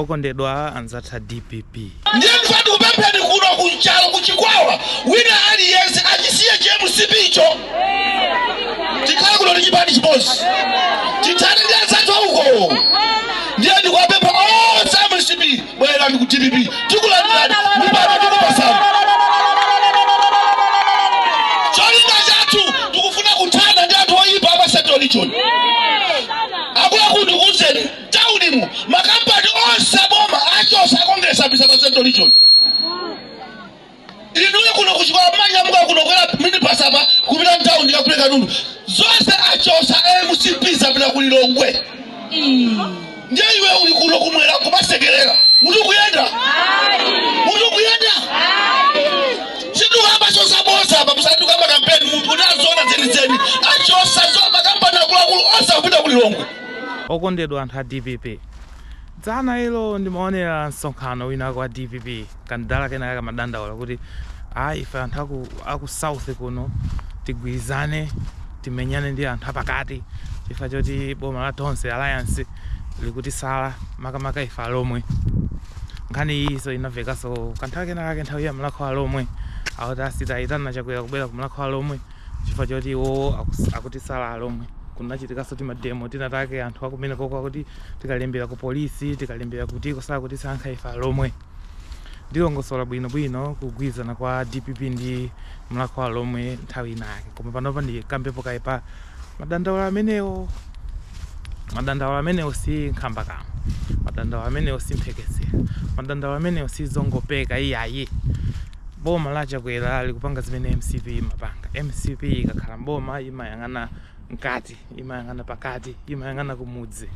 Okondedwa anzathu a dpp. Ndiye ndifuna tikupempheni kuno ku Nchalo ku Chikwawa wina aliyense achisiye chi mcp cho tikhale kuno ndi chipani chimodzi tithane ndi anzathu auko. Ndiye ndikuwapempha onse a mcp bwerani ku dpp tikulandirani mipando tikupatsani. Cholinga chathu tikufuna kuthana ndi anthu oyipa a pa Central Region. Akuluakulu ndikuuzeni town mu ma company onse aboma achotsa akukabisa pa central region inuyo kuno ku Chikwawa mawa mukakwera minibus apa kupita town ya kuleka nundu zonse achotsa mcp zapita ku Lilongwe ndiye iwe uli kuno kumwera kumasekelera mutu kuyenda mutu kuyenda sitikukamba za bodza apa sitikukamba kampeni munthu kuti zoona zenizeni achotsa zonse makampani akuluakulu onse akupita ku Lilongwe Okondedwa anthu a dpp, dzana ilo ndimaonera msonkhano winawake wa dpp, kamdala kenakake kamadandaula kuti ayi ife anthu aku aku south kuno tigwirizane timenyane ndi anthu apakati chifukwa choti boma la Tonse alliance likutisala makamaka ife alomwe. Nkhani iyinso inamvekaso kanthawi kenakake nthawi ya Mlakho Alomwe, akuti asiye kuitana Chakwera kubwera ku Mlakho Alomwe. chifukwa choti iwowo akus- akutisala alomwe kunachitikanso timademo tina take anthu akumeneko akuti tikalembera ku polisi tikalembera kutiko sakutisankha ife alomwe ndilongosola bwinobwino kugwirizana kwa dpp ndi mlakho alomwe nthawi inayake koma panopa ndikambepo kaye pa madandaulo amenewo madandaulo amenewo si nkhambakamwa madandaulo amenewo si mphekesera madandaulo amenewo si zongopeka iyayi Boma la Chakwera likupanga zimene mcp imapanga. Mcp ikakhala mboma imayang'ana mkati, imayang'ana pakati, imayang'ana kumudzi.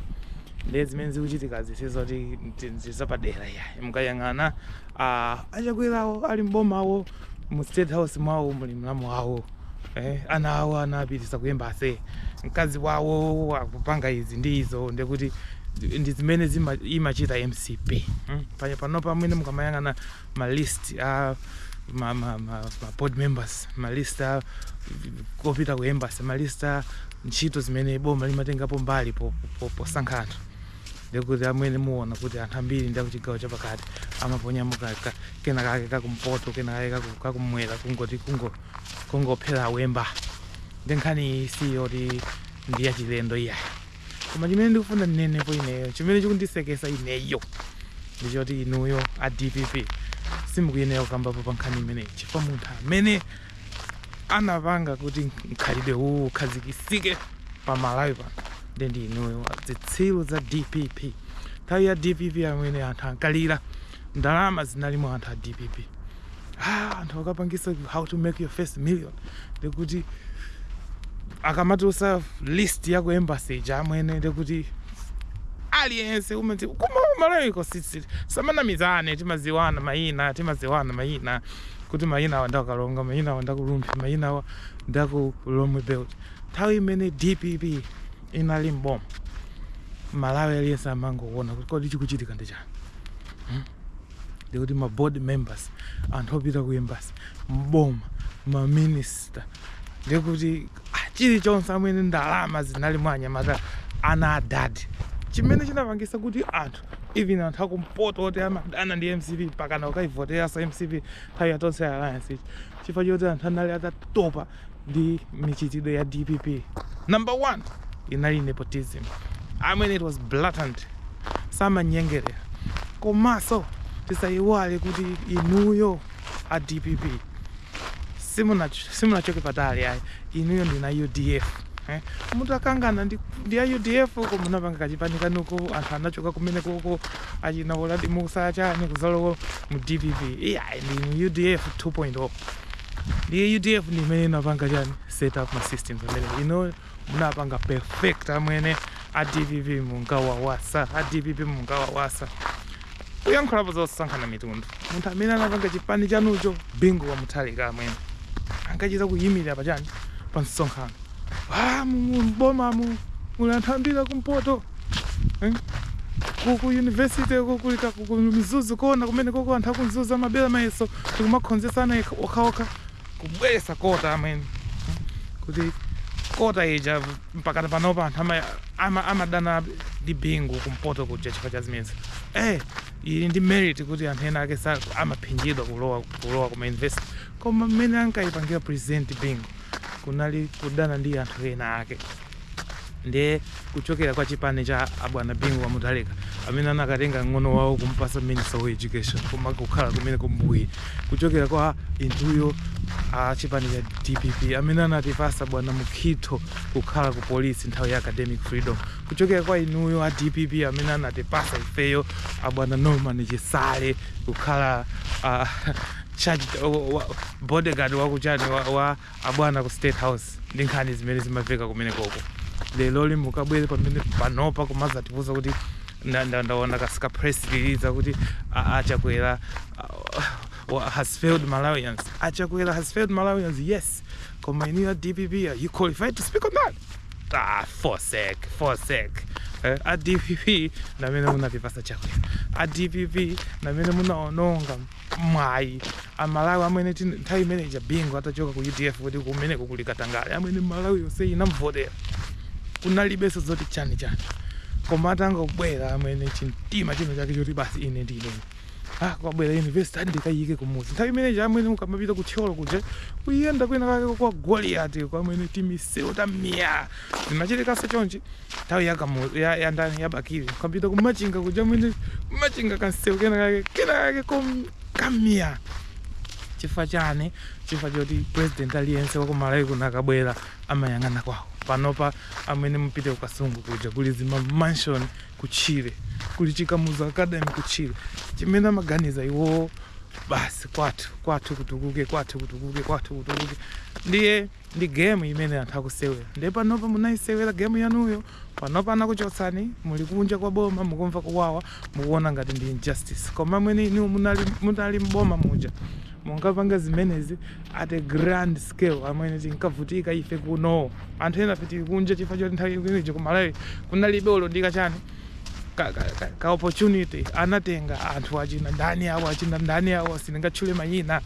Ndiye zimene zikuchitikazi sizoti ndizapadera iyayi mukayang'ana ah, achakwerawo ali mbomawo mu state house mwawo muli mlamu wawo eh, ana awo anapititsa ku embassy mkazi wawo akupanga izi ndi izo ndekuti ndi zimene zima- imachita mcp mm. Panya- panopa mwene mukamayang'ana ma list a ma, ma, ma, ma board members ma list a opita ku embassy ma list a ntchito zimene boma limatengapo mbali po- po- posankha anthu ndikuti amwene muona kuti anthu ambiri ndi akuchigawo chapakati amaponyamo ka- ka- kena kake kakumpoto kena kake kaku- kakumwera kungoti kungo- kungophera wemba nde nkhani iyi si yoti ndi yachilendo iyayi koma chimene ndikufuna ndinenepo ineyo chimene chikundisekesa ineyo ndichoti inuyo a dpp simukuyenera kukambapo pa nkhani imeneyi chifukwa munthu amene anapanga kuti mkhalidwe uwu ukhazikitsike pa malawi pano ndi ndi inuyo zitsiru za dpp nthawi ya dpp amene anthu ankalira ndalama zinali mwa anthu a dpp ah, anthu akapangisa how to make your first million ndikuti akamatulutsa list ya ku embassy ija amwene ndikuti aliyense umati koma aMalawi koma tisamanamizane timaziwana mayina timaziwana mayina kuti mayina awa nda Karonga mayina awa ndaku Rumphi mayina awa ndaku Lomwe belt nthawi imene dpp inali mboma malawi aliyense amangoona kuti kodi chikuchitika ndi hmm? ndikuti ma board members anthu opita ku embassy mboma ma minister ndikuti ah, chilichonse amwene ndalama zinali mwa anyamata ana a dadi chimene chinapangisa kuti anthu even anthu akumpoto oti amadana ndi mcp mpakana kukaivoteranso mcp nthawi ya tonse alliance ija chifukwa choti anthu anali atatopa ndi mchitidwe ya dpp number one inali nepotism i mean it was blatant samanyengerera komanso tisayiwale kuti inuyo a dpp simunachoke patali ayi inuyo ndinu a udf eh? munakangana ndi, ndi a udf ko munapanga kachipani kanuko anthu anachoka kumene koko achina uladi mussa chani kudzalowa mu dpp ija ndinu udf 2.0 Ndiye UDF ndi imene inapanga chani set up ma systems amene inuyo munapanga perfect amwene a DPP munkawawasa a DPP munkawawasa kuyankhulapo zosankhana mitundu munthu amene anapanga chipani chanucho bingu wa mutharika amwene ankachita kuyimirira pa chani pa msonkhano ah, mu- mu- m'bomamu muli anthu ambiri akumpoto Eh? ku ku university ko kuli ka ku ku mzuzu kona kumene koko anthu aku mzuzu amabera mayeso ndi kumakhonzetsana okha- okhaokha kubweretsa quota amwene Hmm? kuti quota ija mpakana panopa anthu ama- ama- amadana ndi bingu kumpoto kuja chifukwa cha zimenezi eh ili ndi merit kuti anthu ena ake amaphinjidwa kulowa kulowa kuma university koma mmene ankayipangira president bingu kunali kudana ndi anthu ena ake ndiye kuchokera kwa chipani cha abwana bingu wa mutharika amene anakatenga mng'ono wawo kumpasa minister of education koma kukhala ku mec uja kuchokera kwa inuyo a chipani cha dpp amene anatipasa bwana mukhito kukhala ku polisi nthawi ya academic freedom kuchokera kwa inuyo a dpp amene anatipasa ifeyo abwana norman chisale kukhala ah, charge wa- wa- bodyguard wakuchani wa, wa Abwana ku state house ndi nkhani zimene zimaveka kumenekoko leroli mukabwere pamene panopa kumazatiuza kuti nda- nda- ndaona kas- ka press release kuti a- a chakwera a- wa- has failed malawians achakwera has failed malawians yes koma inuyo dpp are you qualified to speak on that ah fosek fosek eh, a dpp namene munatipatsa chakwera a dpp namene munaononga mwayi amalawi amwene tin- nthawi imene ija bingu atachoka ku udf kuti kumeneko kuli katangale amwene malawi yonse inamvotera kunalibenso zoti chani chani koma atangobwera amwene chimtima chino chake choti basi ine ndine ah kwabwera university andikayike kumuzi nthawi imene ija amwene ukamapita ku thyolo kuja uyenda kwina kake kwa goliati kwamene timisewu tamiya zimachitikanso chonchi nthawi ya kamuzu ya, ya ndani ya bakili ukapita kumachinga kuja amwene kumachinga kansewu kena kake kena kake kom- kamia chifukwa chani chifukwa choti president aliyense wa kumalawi kuno akabwera amayang'ana kwawo panopa amwene mupite kukasungu kuja kuli zima mansion kutchire kuli chikamuzu academy kutchire chimene amaganiza iwowo basi kwathu kwathu kutukuke kwathu kutukuke kwathu kutukuke ndiye ndi game imene anthu akusewera nde panopa munayisewera game yanuyo panopa anakuchotsani muli kunja kwa boma mukumva kuwawa mukuona ngati ndi injustice koma mmene inu munali, munali mboma muja munkapanga zimenezi at a grand scale amwene tinkavutika ife kuno anthu enafe tili kunja chifukwa choti nthawi imeneyo kumalawi kunalibe olo ndi ka chani ka, ka, ka, ka opportunity anatenga anthu achina ndani awo achina ndani awo sindingatchule mayina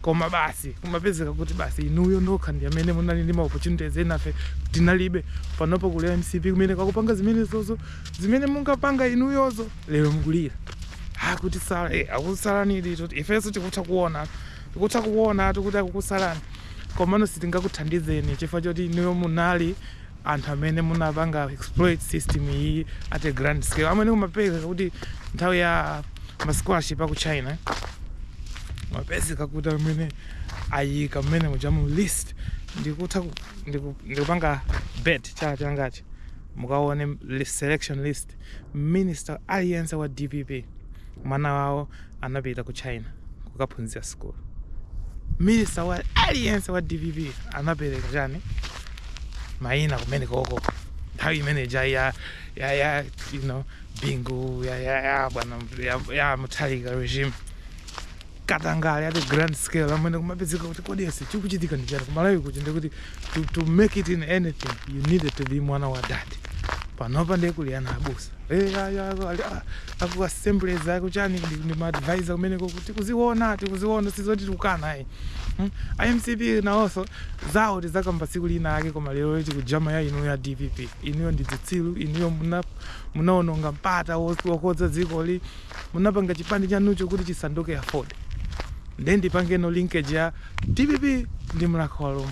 koma basi kumapezeka kuti basi inuyo nokha ndi amene munali ndi maopportunities enafe tinalibe panopo kuli mcp kumeneko akupanga zimenezozo zimene munkapanga inuyozo lero mukulira akutisala eh, akusalani ndithu ifenso tikutha kuona tikutha kuona kuti akukusalani komano sitingakuthandizeni chifukwa choti inuyo munali anthu amene munapanga exploit system iyi at a grand scale amwene kumapezeka kuti nthawi ya ma scholarship aku China mapezeka kuti amene ayika mmene muja mu list ndikutha ku- ndiku- ndikupanga bet chala changachi mukaone li- selection list minister aliyense wa dpp mwana wawo anapita ku china kukaphunzira school minista wa aliyense wa dpp anapereka chani mayina kumenekoko nthawi imene ija ya ya ya you know bingu ya ya ya bwana ya, ya mutharika regime katangale at a grand scale amwene kumapezeka kuti kodi aise chikuchitika ndi chani kumalawi kuchi ndikuti to, to make it in anything you needed to be mwana wa dad panopa ndiye kuli ana abusa Eh, ayi, ayi, ali- ah, aku assemblies aku chani ndi- ndi maadvisor kumeneko kuti kuziona tikuziona sizoti tikukana ayi Hmm? a mcp nawonso zawo tizakamba tsiku lina ake koma leroli tikujama ya inu ya dpp inuyo ndi dzitsilu inuyo muna- munaononga mpata wos- wokonza dzikoli munapanga chipani chanucho kuti chisanduke aford then ndipangeno linkage ya Dpp ndi mlakho wa lomwe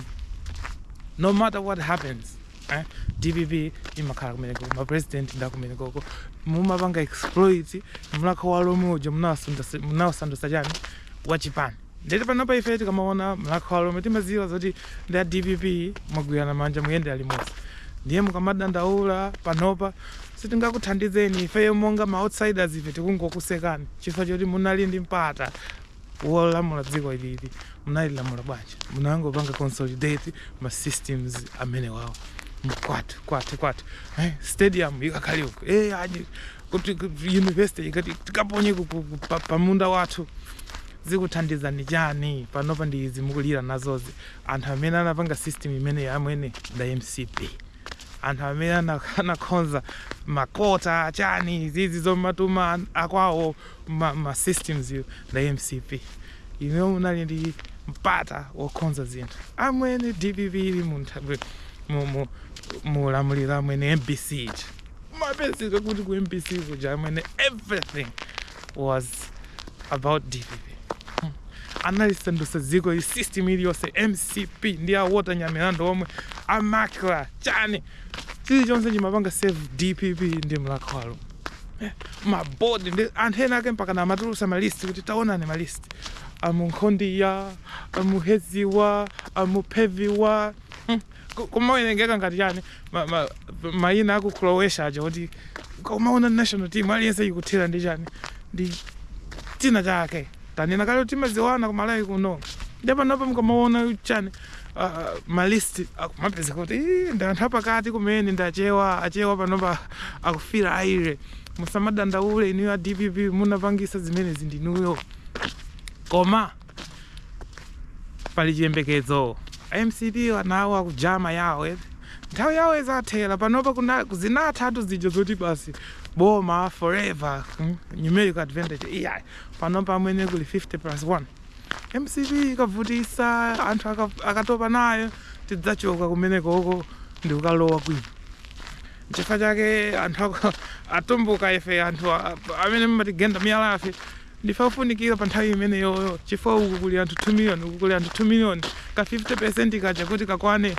no matter what happens eh dpp imakhala kumeneko ma president ndi akumenekoko mumapanga exploit mlakho wa lomwe uja munawasandutsa munawasandutsa chani wa chipani ndete panopa ife tikamaona mlakho wa lomwe timaziwa zoti ndi a dpp mwagwirana manja muyendera limodzi ndiye mukamadandaula panopa sitingakuthandizeni ifeyo monga ma outsiders ife tikungokusekani chifukwa choti munali ndi mpata wolamula dziko ilili munalilamula bwanji munangopanga consolidate ma systems amenewawo kwathu kwathu kwathu eh, stadium ikakhale uko eh, aji kuti kuti university ikati tikaponye ku- ku- ku- pa- pamunda wathu zikuthandizani chani panopa ndi izi mukulira nazozi anthu amene anapanga system imeneyi amwene nda mcp anthu amene ana- anakhonza makota chani zizi zomatuma akwawo ma, ma systemswo nda mcp inuyo munali ndi mpata wokhonza zinthu amwene dpp ili mu nthawi- mu- mu- mu ulamuliro amwene mbc ija mapezeka kuti ku mbc kuja amwene everything was about dpp analisandusa dziko ili system iliyonse mcp ndi a walter nyamilandu omwe a macra chani chilichonse chimapanga serve dpp ndi mlakho wa lomwe mabodi ndi anthu ena ake mpaka namatulusa malisti kuti taonani malisti a munkhondiya a muheziwa a mupheviwa Hmm. Ku- kumawerengeka ngati chani ma- ma- mayina aku croatia aja kuti kumaona national team aliyense ikuthera ndi chani ndi china chake tanena kale timadziwana ku malawi kuno nde panopa mukamaona chani uh, ma list akumapezeka kuti "Ih, ndi anthu apakati kumene ndi achewa achewa panopa akufila irie musamadandaule inuyo a dpp munapangisa zimenezi ndinuyo koma pali chiyembekezo mcp anawo akujama yawo eti. nthawi yawo izathera panopa kuna- zinathatu zija zoti basi boma forever hmm, numerical advantage ija panopa amwene kuli 50 plus 1 mcp ikavutisa anthu aka- akatopa nayo tidzachoka kumenekoko ndikukalowa kwina chifukwa chake anthu ako- atumbuka ife anthu a- amene mmatigenda miyalafe ndife ofunikira pa nthawi imeneyoyo chifukwa uku kuli anthu 2 million uku kuli anthu 2 million ka 50 percent kaja kuti kakwane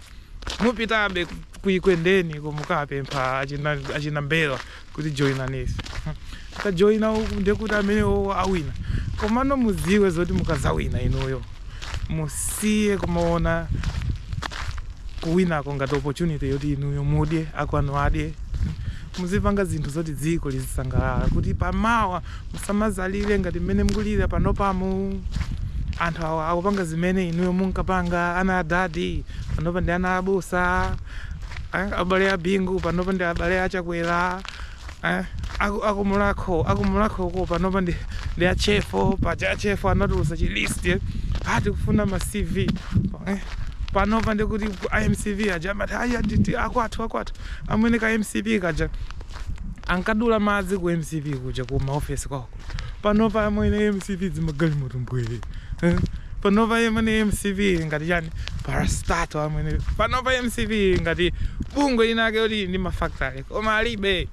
mupitabe kuekwendeni kumukapempha achina achina mbelwa kuti joinani ife akajoina uku ndekuti amenewo awina komano mudziwe zoti mukazawina inuyo musiye kumaona kuwinako ngati opportunity yoti inuyo mudye akwanu adye muzipanga zinthu zoti dziko lizisangalala kuti pamawa musamazalire ngati mmene mukulira panopamu anthu awa akupanga zimene inuyo munkapanga ana adadi panopa ndi ana abusa eh, abale a bingu panopa ndi abale a chakwera eh, aku- akumulakho akumulakhoko panopa ndi ndi achefo paja achefo anatulusa chilisti eh, ati kufuna ma cv eh, panopa ndikuti a mcp aja amati aya nditi akwathu akwathu amwene ka mcp kaja ankadula madzi ku mcp kuja ku maofesi kwako panopa amwene mcp dzimagalimoto mbwee eh? panopa amwene mcp ili ngati chani parastatal amwene panopa mcp ili ngati bungwe lina ake loti lili ndi mafactory koma alibe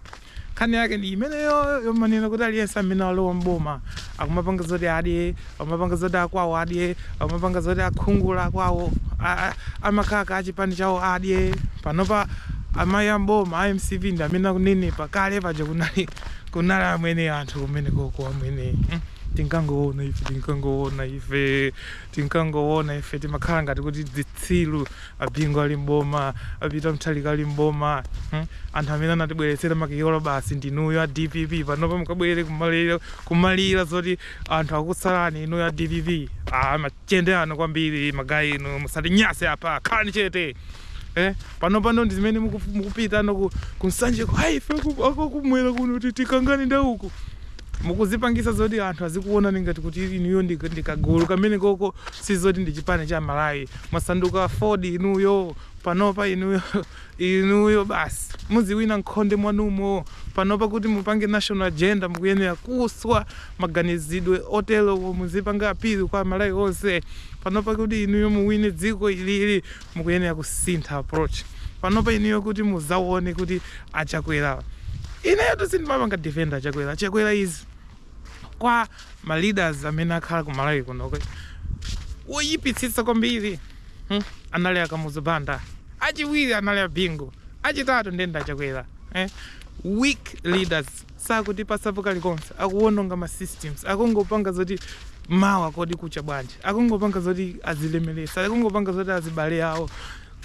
nkhani yake ndi imeneyo yomanena kuti aliyense amene alowa mboma akumapanga zoti adye akumapanga zoti akwawo adye akumapanga zoti akuchikula akwawo a- a- amakaka achipani chawo adye panopa amayi ambomba a mcp ndi amene akunenepa kale paja kunali Kunali amwene anthu kumenekoko amwene mm, tinkangoona ife tinkangoona ife tinkangoona ife timakhala ngati kuti dzitsiru abingu ali mboma a peter mutharika ali mboma mm, anthu amene anatibweretsera makiyolo basi ndinuyo a dpp panopa mukabwere kumalira, kumalira zoti anthu akusalani inuyo a dpp ah, Machende anu kwambiri ma guy inu musatinyase apa khalani chete eh panopano ndizimene mukufu- mukupita no ku, ku nsanjeko ayi ife aku- akumwera kuno kuti tikangane ndi uku mukuzipangisa zoti anthu azikuonani ngati kuti inuyo ndi ndi kagulu kamene koko sizoti ndi chipani cha malawi mwasanduka aford inuyo panopa inuyo inuyo basi muziwina nkhonde mwanumo panopa kuti mupange national agenda mukuyenera kuswa maganizidwe oterowo muzipanga appeal kwa amalawi onse panopa kuti inuyo muwine dziko ilili mukuyenera kusintha approach panopa inuyo kuti muzawone kuti achakwera ineyotu sindimapanga defend achakwera chakwera izi kwa ma leaders amene akhala ku malawi kuno woyipitsitsa kwambiri hmm? anali akamuzu banda achiwiri anali abingu achitatu nde ndi achakwera eh? weak leaders sakutipatsapo kalikonse akuwononga ma systems akungopanga zoti mawa kodi kucha bwanji akungopanga zoti azilemeretse akungopanga zoti azibale awo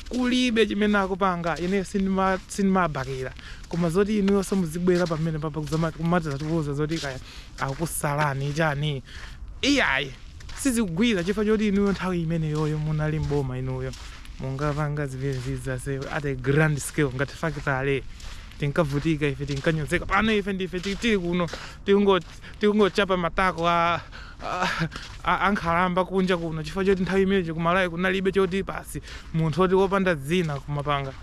kulibe chimene akupanga ineyo sindima- sindimabakira koma zoti inuyonso muzibwera pamene papa kudzama- kumadzatiuza zoti kaya akusalani chani iyayi sizikugwira chifukwa choti inuyo nthawi imeneyoyo munali mboma inuyo munkapanga zimenezizonso at a grand scale ngati factory tinkavutika ife tinkanyozeka pano ife ndife ti- tili kuno tikungo- tikungochapa matako a a- a- ankhalamba kunja kuno chifukwa choti nthawi imeneyo kumalawi kunalibe choti basi munthu oti wopanda dzina kumapanga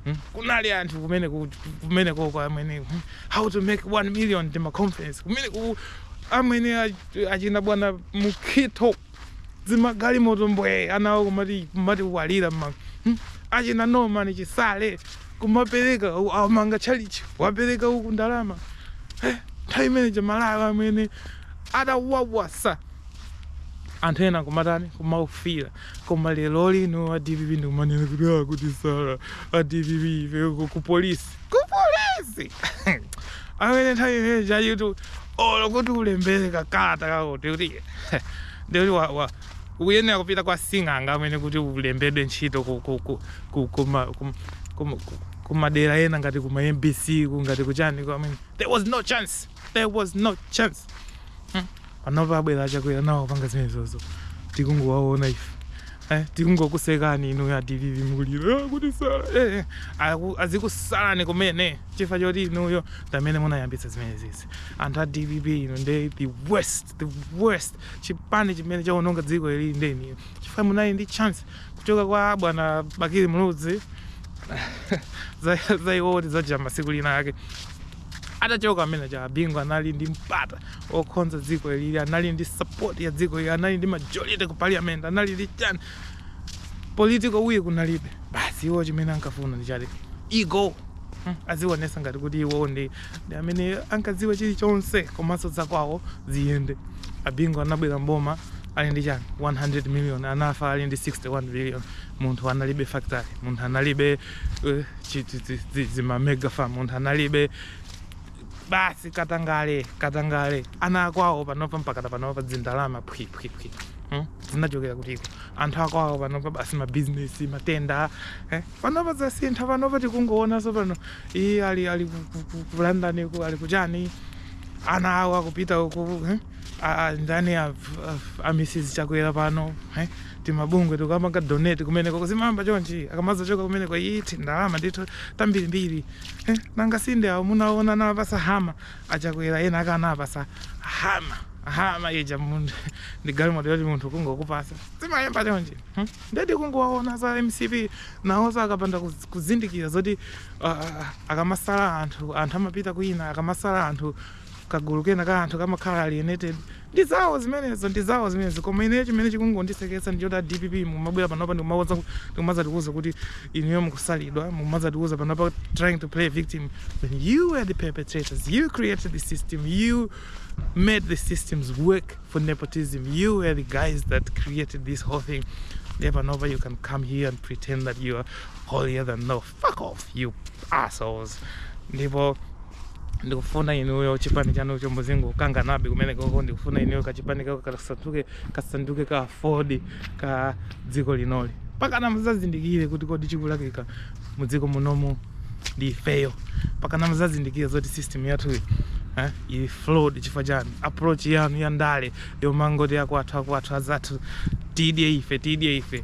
Hmm? kunali anthu kumene ku- kumenekoko amwene hmm, how to make 1 million ndi ma conference kumeneku amwene ach- achina bwana mukhito dzimagalimoto mbwee anawo kumati kumati kuwalira ma hmm? achina norman chisale kumapereka u- amanga tchalitchi wapereka uku ndalama Eh, nthawi imeneija Malawi amwene atawawasa anthu ena kumatani kumaufira koma lero lino a dpp ndikumanena kuti akuti sala a dpp ife ku- ku polisi kupolisi amwene nthawi imeneijayitu olo kuti ulembere kakalata kakuti kuti ndikuti wa- wa- ukuyenera kupita kwa sing'anga amwene kuti ulembedwe ntchito ku- ku- ku- ku- kuma- kum- kum- ku- kumadera ena ngati kuma mbc ku- ngati kuchaniko amwene there was no chance there was no chance panopa abwera achakwera nawo akupanga zimenezozo tikungowaona ife eh, tikungokusekani inu a dpp mukulira "Ah, akutisala eh, eh, aku- azikusalani kumene chifukwa choti inuyo ndi amene munayambitsa zimenezizi anthu a dpp inu nde the worst the worst chipani chimene chaononga dziko ili ndinu chifukwa munali ndi chance kuchoka kwa bwana bakili muluzi za- za iwowo tidzachita tsiku linalake Atachoka amene aja Bingu anali ndi mpata okonza dziko ilili anali ndi support ya dziko ili anali ndi majority ku parliament anali ndi chani political will kunalibe basi iwo chimene ankafuna ndi choti ego hmm, aziwonetsa ngati kuti iwo ndi ndi amene ankadziwa chilichonse komanso zakwawo ziyende a Bingu anabwera mboma ali ndi chani 100 million anafa ali ndi 61 billion munthu analibe factory munthu analibe uh, chi dzi- dzima mega farm munthu analibe basi katangale katangale ana akwawo panopa mpaka panopa dzindalama phwiphwiphwi hmm? zinachokera kutiko anthu akwawo panopa basi mabizinesi ma tender eh? panopa zasintha panopa tikungoonanso pano iye ali ali ku- ku- ku- ku london ku ali kuchani ana awo akupita uku eh? A- a- ndani a- a- a mrs chakwera pano eh? timabungwe tikumapanga donate kumeneko zimayamba chonchi akamazachoka kumeneko iyi tindalama ndithu tambirimbiri eh, nanga sinde awo munaona anawapasa hummer achakwera ena aka anawapasa hummer hummer ija munthu ndi galimoto yoti munthu kungokupasa zimayamba chonchi hmm? nde ndikungowaona a mcp nawonso akapanda kuz- kuzindikira zoti uh, akamasala anthu anthu amapita kwina akamasala anthu kagulu kena ka anthu kamakhala alienated ndi zawo zimenezo ndi zawo zimenezo koma ineyo chimene chikungondiseketsa ndi choti a dpp mumabwera panopa ndikumakonza ndikumazatiuza kuti inuyo mukusalidwa mumazatiuza panopa trying to play victim when you were the perpetrators you created the system you made the systems work for nepotism you were the guys that created this whole thing ndiye panopa you can come here and pretend that you are holier than thou fuck off you assholes ndipo ndikufuna inuyo chipani chanu chomwecho muzingokanganabe kumeneko ndikufuna inuyo kachipani kako kasanduke kasanduke ka aford ka dziko linoli pakana muzazindikire kuti kodi chikulakwika mu dziko munomu ndi ifeyo pakana muzazindikire zoti system yathuyo eh, ili flawed chifukwa chani approach yanu ya ndale yomangoti akwathu akwathu azathu tidye ife tidye ife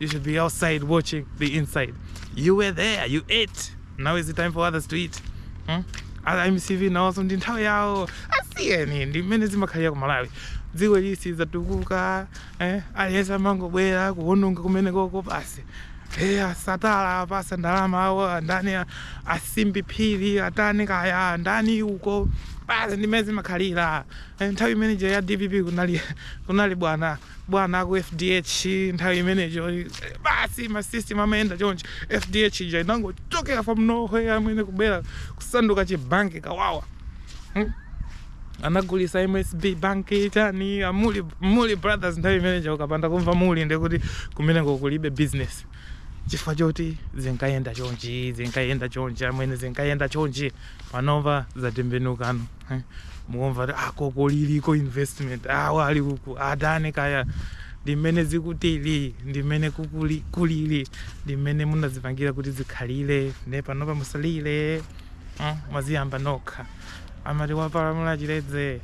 You should be outside watching the inside. You were there, you ate. Now is the time for others to eat. Hmm? mcp nawonso ndi nthawi yawo asiyeni ndi mmene zimakhalira ku malawi dziko ili silizatukuka eh? aliyense amangobwera kuononga kumeneko basi eh, satana apasa ndalama awo andani a simbi phiri atani kaya andani uko basi ndi mmene zimakhalira eh, nthawi imeneyo ya dpp kunali, kunali bwana bwana aku fdh nthawi imeneyo basi ma system amayenda chonchi fdh ija inangochokera from nowhere amwene kubwera kusanduka chibanki kawawa hmm? anagulisa msb banki chani a mulli mulli brothers nthawi imeneyo ukapanda kumva mulli nde kuti kumeneko kulibe business chifukwa choti zinkayenda chonchi zinkayenda chonchi amwene zinkayenda chonchi panopa zatembenukano eh? mukumva ti a koko ah, lilico investment awa ah, ali uku atani kaya ndimene zikutili ndi mmene kukuli kulili ndi mmene munazipangira kuti zikhalire nde panopa musalire eh? mwaziyamba nokha amati wapalamula chitedze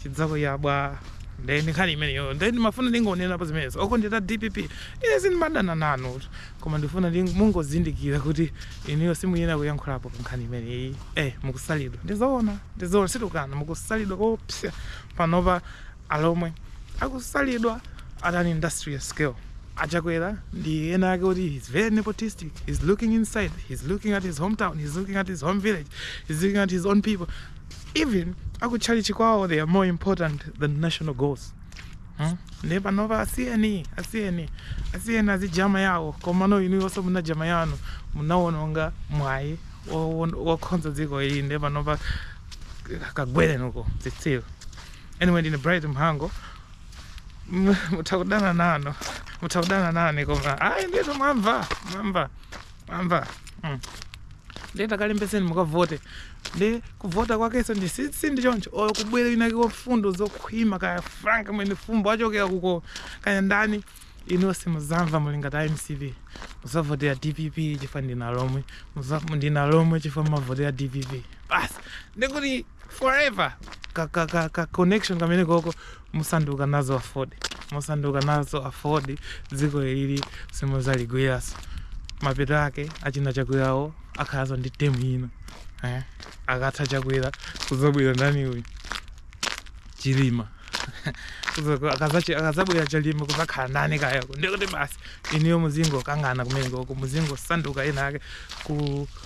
chidzakuyabwa nde ndi nkhani imeneyo nde ndimafuna ndingonenapo zimenezo okondedwa dpp ine sindimadana nanu Koma ndikufuna mungozindikira kuti inuyo simuyenera kuyankhulapo pa nkhani imeneyi. Eh, mukusalidwa. Ndi zoona, ndi zoona, sitikukana. Mukusalidwa koopsa panopa alomwe. Akusalidwa at an industrial scale. A Chakwera ndi ena ake oti he's very nepotistic, he's looking inside, he's looking at his hometown, he's looking at his home village, he's looking at his own people. Even akutchalitchi kwawo they are more important than national goals. Hmm? Ndiye panopa asiyeni, asiyeni, asiyeni azijama yawo komano inuyonso munajama yanu munawononga mwayi wo- wo- wokhonza dziko ili ndiye panopa kagwereni uko zitsiru anyway ine bright mhango M- mutha kudana nane mutha kudana nane koma ayi ndithu mwamva mwamva mamva mm. nde takalembeseni mukavote ndiye kuvota kwakenso ndi si- sindi choncho olo kubwera winawakeko mfundo zokhwima kaya frank Mwenefumbo achokera kuko kaya ndani inuyo muzamva mulinga ngati a mcp muzavotera dpp chifukwa ndinu Alomwe Muza- ndinu Alomwe chifukwa mumavotera dpp basi ndikuti forever ka, ka, ka, ka connection kameneko musanduka nazo AFORD musanduka nazo AFORD dziko ili simuzaligwiranso mapeto ake achina chakwerawo akhalanso ndi temu ino eh? akatha chakwera kuzabwera ndani uyu chilima akazabwera Chilima kuzakhala ndani kayako ndikuti basi inuyo muzingokangana kumene koko muzingosanduka ena ake ku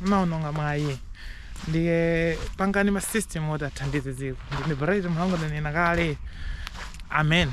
Munaononga mwayi ndiye pangani ma system oti athandize dziko. Ndine Bright Mhango ndanena kale. Amen.